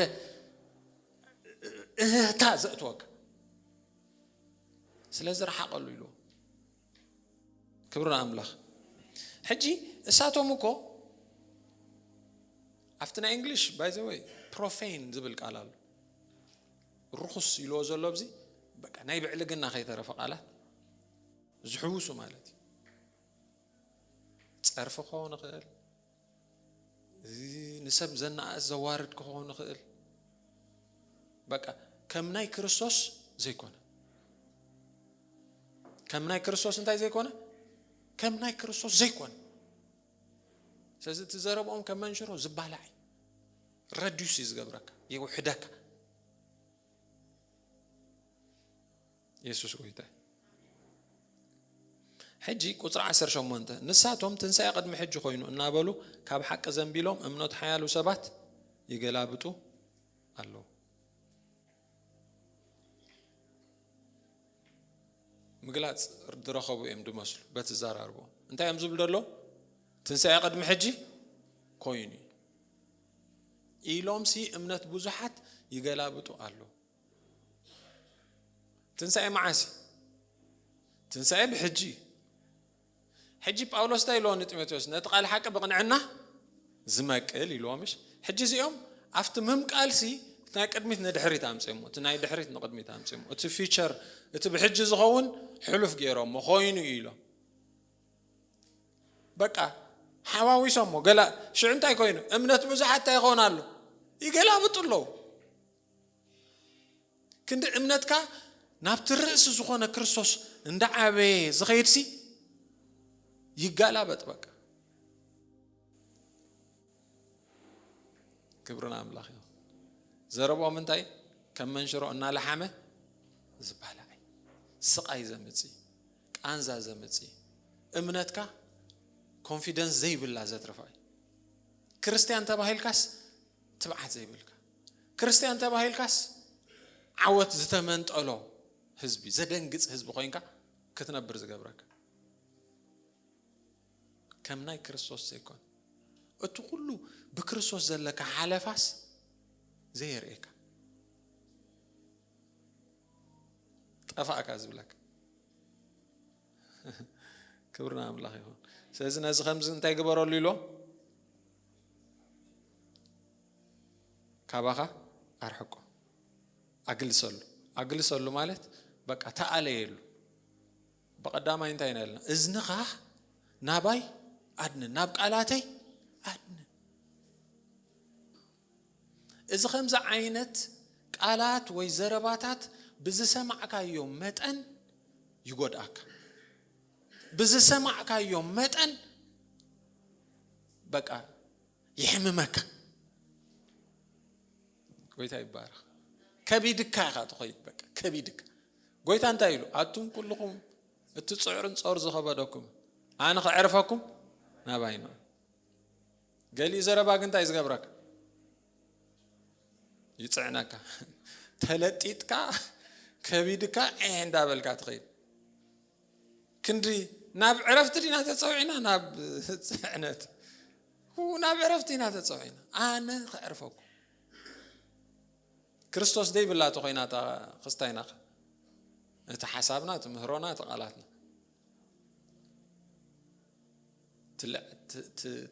እህህታ ዘእተወካ ስለዚ ረሓቐሉ ኢልዎ ክብሪ ንኣምላኽ። ሕጂ እሳቶም እኮ ኣብቲ ናይ እንግሊሽ ባይ ዘ ወይ ፕሮፌን ዝብል ቃል ኣሎ ርኹስ ኢልዎ ዘሎ ኣብዚ በቃ ናይ ብዕልግና ከይተረፈ ቃላት ዝሕውሱ ማለት እዩ ጸርፊ ክኸውን ይኽእል ንሰብ ዘነኣእስ ዘዋርድ ክኸውን ይኽእል በቃ ከም ናይ ክርስቶስ ዘይኮነ ከም ናይ ክርስቶስ እንታይ ዘይኮነ ከም ናይ ክርስቶስ ዘይኮነ ስለዚ እቲ ዘረብኦም ከም መንሽሮ ዝባላዕ እዩ ረዲዩስ እዩ ዝገብረካ ይውሕደካ የሱስ ጎይታ ሕጂ ቁፅሪ 18 ንሳቶም ትንሣኤ ቅድሚ ሕጂ ኮይኑ እናበሉ ካብ ሓቂ ዘንቢሎም እምኖት ሓያሉ ሰባት ይገላብጡ ኣለዉ ምግላፅ ዝረኸቡ እዮም ድመስሉ በቲ ዘራርቦ እንታይ እዮም ዝብሉ ደሎ ትንሣኤ ቅድሚ ሕጂ ኮይኑ ኢሎም ሲ እምነት ብዙሓት ይገላብጡ ኣለዉ ትንሣኤ መዓስ እዩ? ትንሣኤ ብሕጂ እዩ። ሕጂ ጳውሎስ እንታይ ኢልዎ ንጢሞቴዎስ ነቲ ቃል ሓቂ ብቕንዕና ዝመቅል ኢልዎ ምሽ ሕጂ እዚኦም ኣብቲ ምምቃልሲ እቲ ናይ ቅድሚት ንድሕሪት ኣምፅሞ እቲ ናይ ድሕሪት ንቅድሚት ኣምፅሞ እቲ ፊቸር እቲ ብሕጂ ዝኸውን ሕሉፍ ገይሮሞ ኮይኑ እዩ ኢሎም በቃ ሓዋዊሶሞ ገላ ሽዑ እንታይ ኮይኑ እምነት ብዙሓት እንታይ ይኸውን ኣሎ ይገላብጡ ኣለዉ ክንዲ እምነትካ ናብቲ ርእሲ ዝኾነ ክርስቶስ እንዳዓበየ ዝኸይድሲ ይጋላበጥ በቃ ክብርን ኣምላኽ እዩ ዘረብኦም እንታይ ከም መንሽሮ እናለሓመ ዝበላዕ ስቃይ ዘምፅ ቃንዛ ዘምፅ እምነትካ ኮንፊደንስ ዘይብላ ዘትርፋ እዩ ክርስትያን ተባሂልካስ ትብዓት ዘይብልካ ክርስትያን ተባሂልካስ ዓወት ዝተመንጠሎ ህዝቢ ዘደንግጽ ህዝቢ ኮይንካ ክትነብር ዝገብረካ ከም ናይ ክርስቶስ ዘይኮን እቲ ኩሉ ብክርስቶስ ዘለካ ሓለፋስ ዘየርእየካ ጠፋእካ ዝብለካ ክብርና ኣምላኽ ይኹን ስለዚ ነዚ ከምዚ እንታይ ግበረሉ ኢሎ ካባኻ ኣርሕቆ ኣግልሰሉ ኣግልሰሉ ማለት በቃ ተኣለየሉ ብቐዳማይ እንታይ ኢና ኢልና እዝንኻ ናባይ ኣድንን ናብ ቃላተይ ኣድንን እዚ ከምዚ ዓይነት ቃላት ወይ ዘረባታት ብዝሰማዕካዮ መጠን ይጎድኣካ ብዝሰማዕካዮ መጠን በቃ የሕምመካ ጎይታ ይባረኽ ከቢድካ ኢኻ ትኾይድ በቃ ከቢድካ ጎይታ እንታይ ኢሉ ኣቱም ኩልኹም እቲ ፅዕርን ፀር ዝኸበደኩም ኣነ ከዕርፈኩም ናባይ ነው ገሊኡ ዘረባ ግን እንታይ ዝገብረካ ይፅዕነካ ተለጢጥካ ከቢድካ ዔ እንዳበልካ ትኸይድ ክንዲ ናብ ዕረፍቲ ዲና ተጸዊዕና ናብ ጽዕነት ናብ ዕረፍቲ ኢና ተጸዊዕና ኣነ ከዕርፈኩ ክርስቶስ ዘይብላ ተኮይና እታ ክስታይና እቲ ሓሳብና እቲ ምህሮና እቲ ቃላትና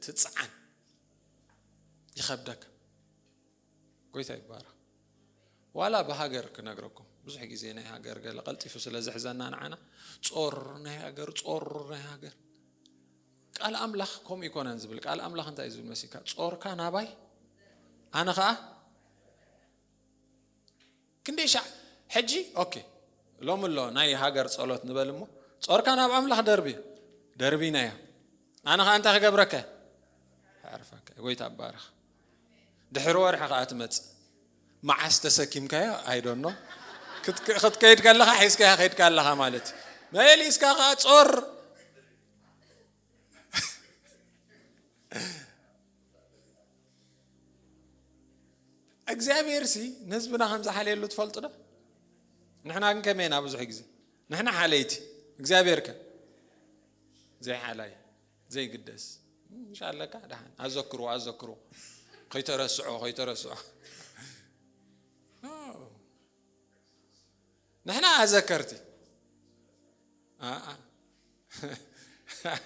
ትፅዓን ይኸብደካ ጎይታ ይባረኽ ዋላ ብሃገር ክነግረኩም ብዙሕ ግዜ ናይ ሃገር ገለ ቀልጢፉ ስለ ዝሕዘና ንዓና ጾር ናይ ሃገር ጾር ናይ ሃገር ቃል ኣምላኽ ከምኡ ይኮነን ዝብል ቃል ኣምላኽ እንታይ እዩ ዝብል መሲካ ጾርካ ናባይ ኣነ ከዓ ክንደይ ሻዕ ሕጂ ኦኬ ሎሚ ኣሎ ናይ ሃገር ጸሎት ንበል እሞ ጾርካ ናብ ኣምላኽ ደርቢ ደርቢናዮ ኣነ ከኣ እንታይ ክገብረከ ኣዕርፈከ ጎይታ ባርኽ ድሕሪ ወርሒ ከኣ ትመጽእ መዓስ ተሰኪምካዮ ኣይዶኖ ክትከይድ ከለኻ ሒዝካያ ከይድካ ኣለኻ ማለት እዩ መሊስካ ከኣ ጾር እግዚኣብሔር ሲ ንህዝብና ከም ዝሓልየሉ ትፈልጡ ዶ ንሕና ግን ከመይ ኢና ብዙሕ ግዜ ንሕና ሓለይቲ እግዚኣብሔር ከ ዘይሓላይ ዘይግደስ እንሻለካ ድሓን ኣዘክርዎ ኣዘክርዎ ከይተረስዖ ከይተረስዖ ንሕና ኣዘከርቲ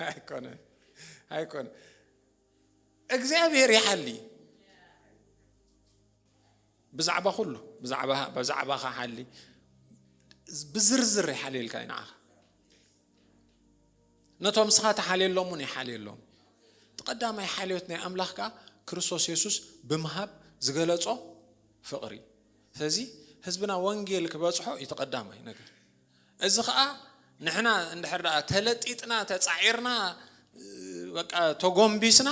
ኣይኮነ ኣይኮነ እግዚኣብሔር ይሓሊ ብዛዕባ ኩሉ ብዛዕባኻ ሓሊ ብዝርዝር ይሓልየልካ እዩ ንዓኻ ነቶም ንስኻ ትሓልየሎም እውን ይሓልየሎም እዩ። እቲ ቀዳማይ ሓልዮት ናይ ኣምላኽ ከኣ ክርስቶስ የሱስ ብምሃብ ዝገለጾ ፍቕሪ እዩ። ስለዚ ህዝብና ወንጌል ክበጽሖ እዩ እቲ ቀዳማይ ነገር። እዚ ከኣ ንሕና እንድሕር ደኣ ተለጢጥና ተጻዒርና በቃ ተጎንቢስና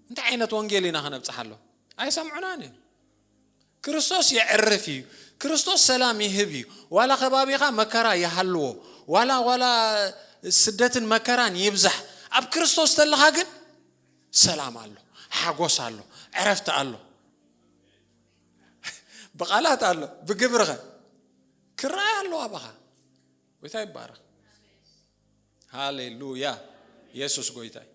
እንታይ ዓይነት ወንጌል ኢና ከነብጽሓሎም? ኣይሰምዑናን እዮም። ክርስቶስ የዕርፍ እዩ ክርስቶስ ሰላም ይህብ እዩ ዋላ ከባቢኻ መከራ ይሃልዎ ዋላ ዋላ ስደትን መከራን ይብዛሕ ኣብ ክርስቶስ ተለኻ ግን ሰላም ኣሎ ሓጎስ ኣሎ ዕረፍቲ ኣሎ ብቓላት ኣሎ ብግብርኸ ክረኣይ ኣለዎ ኣባኻ ጎይታ ይባረኽ ሃሌሉያ የሱስ ጎይታ እዩ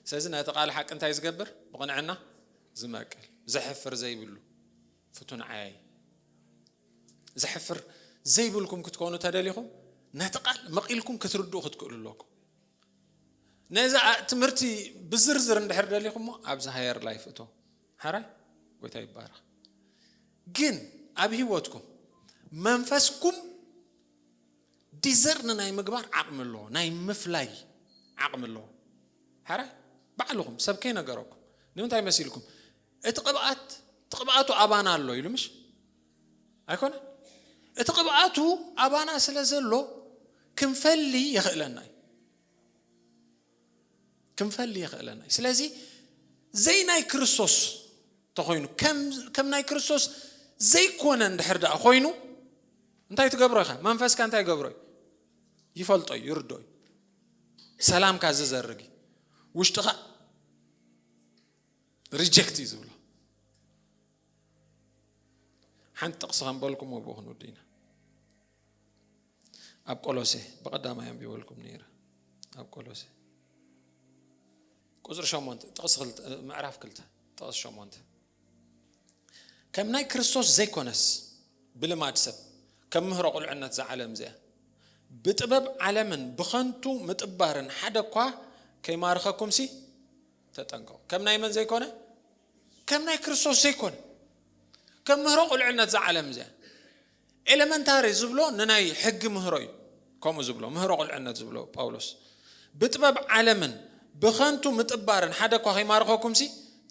ስለዚ ነቲ ቃል ሓቂ እንታይ ዝገብር ብቕንዕና ዝመቅል ዘሕፍር ዘይብሉ ፍቱን ዓያይ ዘሕፍር ዘይብልኩም ክትኮኑ ተደሊኹም ነቲ ቃል መቒልኩም ክትርድኡ ክትክእሉ ኣለኩም ነዚ ትምህርቲ ብዝርዝር እንድሕር ደሊኹሞ ኣብዚ ሃየር ላይፍ እቶ ሓራይ ጎይታ ይባረኽ ግን ኣብ ህይወትኩም መንፈስኩም ዲዘርን ናይ ምግባር ዓቕሚ ኣለዎ፣ ናይ ምፍላይ ዓቕሚ ኣለዎ። ሓራይ ባዕልኹም ሰብ ከይነገረኩም ንምንታይ መሲልኩም እቲ ቅብኣት እቲ ቅብኣቱ ኣባና ኣሎ ኢሉ ምሽ ኣይኮነ እቲ ቅብኣቱ ኣባና ስለ ዘሎ ክንፈሊ የኽእለና እዩ። ክንፈሊ የኽእለና እዩ ስለዚ ዘይናይ ክርስቶስ ተኾይኑ ከም ናይ ክርስቶስ ዘይኮነ እንድሕር ደኣ ኮይኑ እንታይ ትገብሮ ኢኻ መንፈስካ እንታይ ገብሮ እዩ ይፈልጦ እዩ ይርዶ እዩ ሰላምካ ዝዘርግ እዩ ውሽጥኻ ሪጀክት እዩ ዝብሎ ሓንቲ ጥቕሲ ከንበልኩም ኣብኡ ክንውድኢና ኣብ ቆሎሴ ብቐዳማይ ኣንቢበልኩም ነይረ ኣብ ቆሎሴ ቁፅሪ ሸሞንተ ጥቕስ ምዕራፍ ክልተ ጥቕስ ሸሞንተ ከም ናይ ክርስቶስ ዘይኮነስ ብልማድ ሰብ ከም ምህሮ ቁልዕነት ዝዓለም እዚኣ ብጥበብ ዓለምን ብኸንቱ ምጥባርን ሓደ እኳ ከይማርኸኩም ሲ ተጠንቀቑ ከም ናይ መን ዘይኮነ ከም ናይ ክርስቶስ ዘይኮነ ከም ምህሮ ቁልዕነት ዝዓለም እዚኣ ኤለመንታሪ ዝብሎ ንናይ ሕጊ ምህሮ እዩ ከምኡ ዝብሎ ምህሮ ቁልዕነት ዝብሎ ጳውሎስ ብጥበብ ዓለምን ብከንቱ ምጥባርን ሓደ እኳ ከይማርኸኩምሲ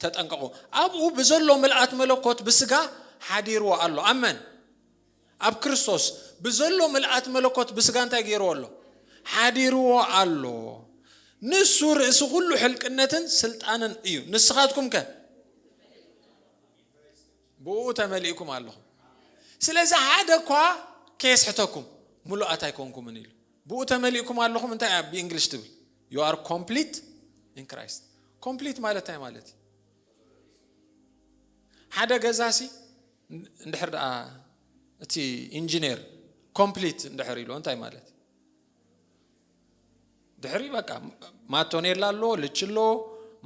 ተጠንቀቁ ኣብኡ ብዘሎ ምልኣት መለኮት ብስጋ ሓዲርዎ ኣሎ ኣብ መን ኣብ ክርስቶስ ብዘሎ ምልኣት መለኮት ብስጋ እንታይ ገይርዎ ኣሎ ሓዲርዎ ኣሎ ንሱ ርእሲ ኩሉ ሕልቅነትን ስልጣንን እዩ ንስኻትኩም ከ ብእኡ ተመሊእኩም ኣለኹም፣ ስለዚ ሓደ እኳ ከየስሕተኩም ምሉኣት ኣይኮንኩምን ኢሉ። ብኡ ተመሊእኩም ኣለኹም እንታይ እያ ብእንግሊሽ ትብል? ዩ ኣር ኮምፕሊት ኢን ክራይስት። ኮምፕሊት ማለት እንታይ ማለት እዩ? ሓደ ገዛሲ እንድሕር ደኣ እቲ ኢንጂነር ኮምፕሊት እንድሕር ኢሉ እንታይ ማለት ድሕሪ በቃ ማቶኔላ ኣሎ ልች ኣሎ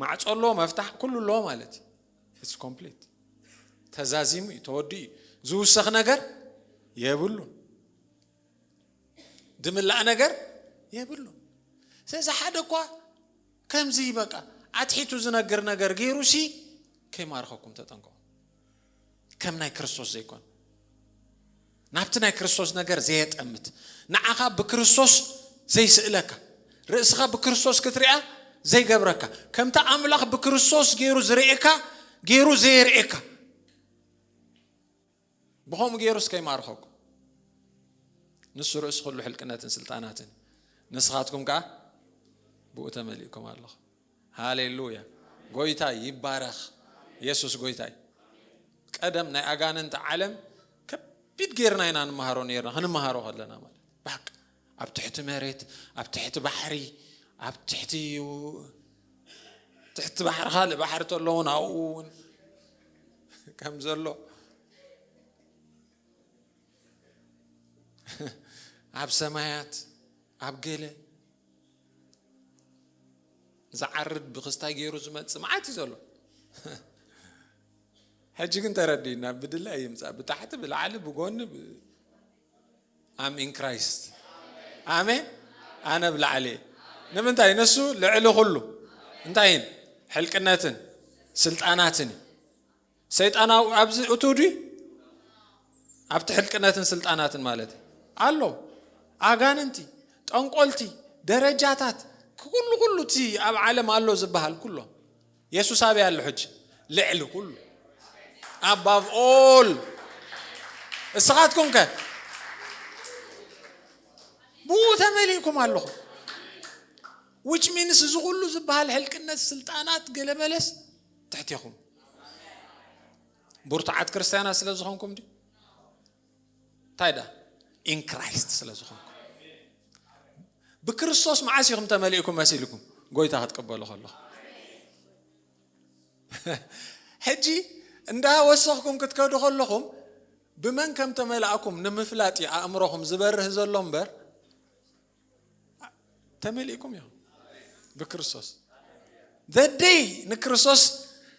ማዕፆ ኣሎ መፍታሕ ኩሉ ኣሎ ማለት እዩ ኢትስ ኮምፕሊት ተዛዚሙ እዩ ተወዲኡ እዩ ዝውሰኽ ነገር የብሉን ድምላእ ነገር የብሉን ስለዚ ሓደ እኳ ከምዚ በቃ ኣትሒቱ ዝነግር ነገር ገይሩሲ ከይማርኸኩም ተጠንቀቑ ከም ናይ ክርስቶስ ዘይኮን ናብቲ ናይ ክርስቶስ ነገር ዘየጠምት ንዓኻ ብክርስቶስ ዘይስእለካ ርእስኻ ብክርስቶስ ክትሪኣ ዘይገብረካ ከምቲ ኣምላኽ ብክርስቶስ ገይሩ ዝርእካ ገይሩ ዘየርእካ ብኸምኡ ገይሩ እስከ ይማርኸኩም ንሱ ርእሲ ኩሉ ሕልቅነትን ስልጣናትን ንስኻትኩም ከዓ ብኡ ተመሊእኩም ኣለኹም ሃሌሉያ ጎይታ ይባረኽ የሱስ ጎይታ እዩ። ቀደም ናይ ኣጋንንቲ ዓለም ከቢድ ጌርና ኢና ንመሃሮ ነርና ክንመሃሮ ከለና ማለት ባቅ ኣብ ትሕቲ መሬት ኣብ ትሕቲ ባሕሪ ኣብ ትሕቲ ትሕቲ ባሕሪ ካልእ ባሕሪ ተሎ እውን ኣብኡ እውን ከም ዘሎ ኣብ ሰማያት ኣብ ገለ ዝዓርድ ብክስታይ ገይሩ ዝመጽእ መዓት እዩ ዘሎ ሕጂ ግን ተረዲና ብድላይ ይምፃእ ብታሕቲ ብላዕሊ ብጎኒ ኣም ኢን ክራይስት ኣሜን ኣነ ብላዕሊ ንምንታይ ንሱ ልዕሊ ኩሉ እንታይን ሕልቅነትን ስልጣናትን እዩ ሰይጣን ኣብኡ ኣብዚ እቱ ድዩ ኣብቲ ሕልቅነትን ስልጣናትን ማለት እዩ ኣሎ ኣጋንንቲ ጠንቆልቲ ደረጃታት ኩሉ ኩሉ እቲ ኣብ ዓለም ኣሎ ዝበሃል ኩሎ የሱስ ኣበይ ኣሎ ሕጂ ልዕሊ ኩሉ ኣባቭ ኦል እስኻትኩም ከ ብኡ ተመሊእኩም ኣለኹም ዊች ሚንስ እዚ ኩሉ ዝበሃል ሕልቅነት ስልጣናት ገለመለስ ትሕቴኹም ብርቱዓት ክርስትያናት ስለ ዝኾንኩም ድዩ እንታይ ዳ ኢን ክራይስት ስለ ዝኾንኩም ብክርስቶስ መዓስ ኢኹም ተመሊእኩም መሲልኩም ጎይታ ክትቅበሉ ከለኹ ሕጂ እንዳወሰኽኩም ክትከዱ ከለኹም ብመን ከም ተመላእኩም ንምፍላጥ እዩ ኣእምሮኹም ዝበርህ ዘሎ እምበር ተመሊእኩም እዮም ብክርስቶስ ዘደይ ንክርስቶስ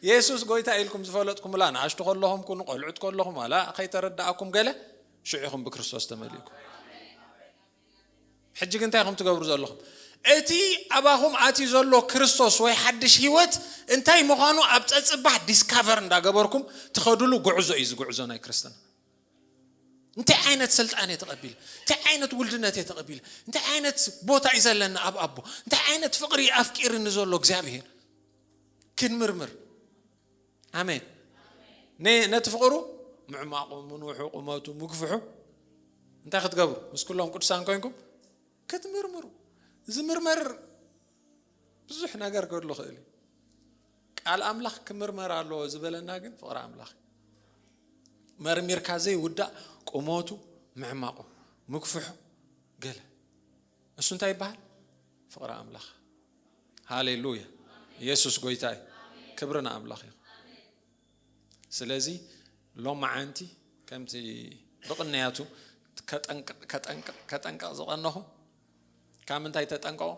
የሱስ ጎይታ ኢልኩም ዝፈለጥኩምላ ንኣሽቱ ከለኹም ኩኑ ቆልዑት ከለኹም ዋላ ከይተረዳእኩም ገለ ሽዑ ኢኹም ብክርስቶስ ተመሊእኩም ሕጂ ግን እንታይ ኢኹም ትገብሩ ዘለኹም እቲ ኣባኹም ኣትዩ ዘሎ ክርስቶስ ወይ ሓድሽ ህይወት እንታይ ምዃኑ ኣብ ፀፅባሕ ዲስካቨር እንዳገበርኩም ትኸድሉ ጉዕዞ እዩ ዝጉዕዞ ናይ ክርስትና እንታይ ዓይነት ስልጣን እየ ተቐቢለ እንታይ ዓይነት ውልድነት እየ ተቐቢለ እንታይ ዓይነት ቦታ እዩ ዘለና ኣብ ኣቦ እንታይ ዓይነት ፍቕሪ እዩ ኣፍቂርኒ ዘሎ እግዚኣብሄር ክንምርምር ኣሜን ነቲ ፍቕሩ ምዕማቑ ምንውሑ ቁመቱ ምግፍሑ እንታይ ክትገብሩ ምስ ኩሎም ቅዱሳን ኮንኩም ክትምርምሩ እዚ ምርመር ብዙሕ ነገር ገድሉ ክእል እዩ ቃል ኣምላኽ ክምርመር ኣለዎ ዝበለና ግን ፍቕሪ ኣምላኽ መርሚርካ ዘይውዳእ ቁመቱ ምዕማቑ ምግፍሑ ገለ እሱ እንታይ ይበሃል ፍቕሪ ኣምላኽ ሃሌሉያ ኢየሱስ ጎይታ እዩ ክብሪ ንኣምላኽ እዩ ስለዚ ሎማዓንቲ ከምቲ ብቕንያቱ ከጠንቅቕ ከጠንቅቕ ከጠንቅቕ ዝቐነኹ ካብ ምንታይ ተጠንቀቑ?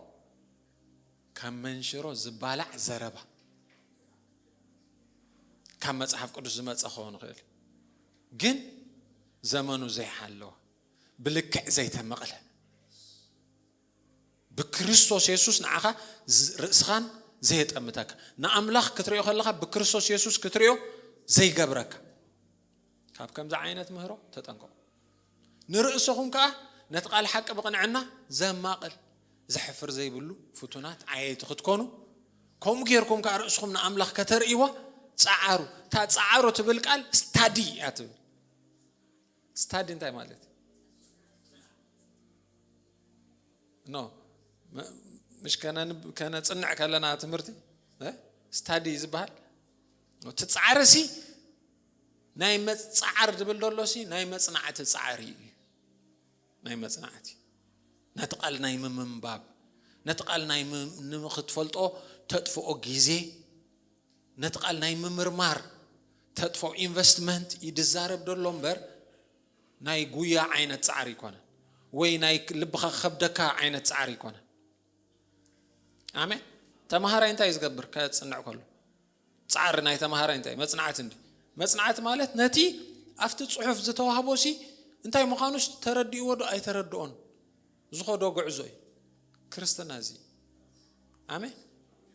ካብ መንሽሮ ዝባላዕ ዘረባ ካብ መጽሓፍ ቅዱስ ዝመጸ ክኸውን ይኽእል ግን ዘመኑ ዘይሓለወ ብልክዕ ዘይተመቕለ ብክርስቶስ የሱስ ንዓኻ ርእስኻን ዘየጠምተካ ንኣምላኽ ክትሪኦ ከለኻ ብክርስቶስ የሱስ ክትሪኦ ዘይገብረካ ካብ ከምዚ ዓይነት ምህሮ ተጠንቀቑ ንርእሰኹም ከኣ ነቲ ቃል ሓቂ ብቕንዕና ዘማቕል ዘሕፍር ዘይብሉ ፍቱናት ዓየይቲ ክትኮኑ ከምኡ ጌርኩም ከኣ ርእስኹም ንኣምላኽ ከተርእይዎ ጸዓሩ። እታ ጸዓሩ ትብል ቃል ስታዲ እያ ትብል። ስታዲ እንታይ ማለት እዩ? ኖ ምሽ ከነፅንዕ ከለና ትምህርቲ ስታዲ ዝበሃል ትፃዕርሲ ናይ መጽዓር ዝብል ደሎሲ ናይ መጽናዕቲ ጻዕሪ እዩ ናይ መጽናዕቲ ነቲ ቃል ናይ ምምንባብ ነቲ ቃል ናይ ንክትፈልጦ ተጥፍኦ ግዜ ነቲ ቃል ናይ ምምርማር ተጥፎ ኢንቨስትመንት እዩ ድዛረብ ደሎ እምበር ናይ ጉያ ዓይነት ጻዕሪ ይኮነ ወይ ናይ ልብኻ ከብደካ ዓይነት ጻዕሪ ይኮነ ኣሜን ተምሃራይ እንታይ እዩ ዝገብር ከጽንዕ ከሎ ጻዕሪ ናይ ተማሃራይ እንታይ እዩ? መጽናዕቲ እንድዩ። መጽናዕቲ ማለት ነቲ ኣብቲ ጽሑፍ ዝተዋህቦሲ እንታይ ምዃኑስ ተረዲእዎዶ ኣይተረድኦን ዝኸዶ ጉዕዞ እዩ። ክርስትና እዚ እዩ። ኣሜን።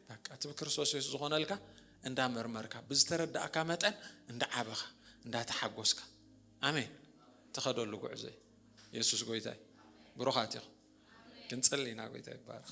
በቃ እቲ ብክርስቶስ የሱስ ዝኾነልካ እንዳመርመርካ ብዝተረዳእካ መጠን እንዳዓበኻ እንዳተሓጎስካ ኣሜን ትኸደሉ ጉዕዞ እዩ። የሱስ ጎይታ እዩ። ብሩኻት ኢኹም። ክንጽሊ ኢና። ጎይታ ይባረኽ።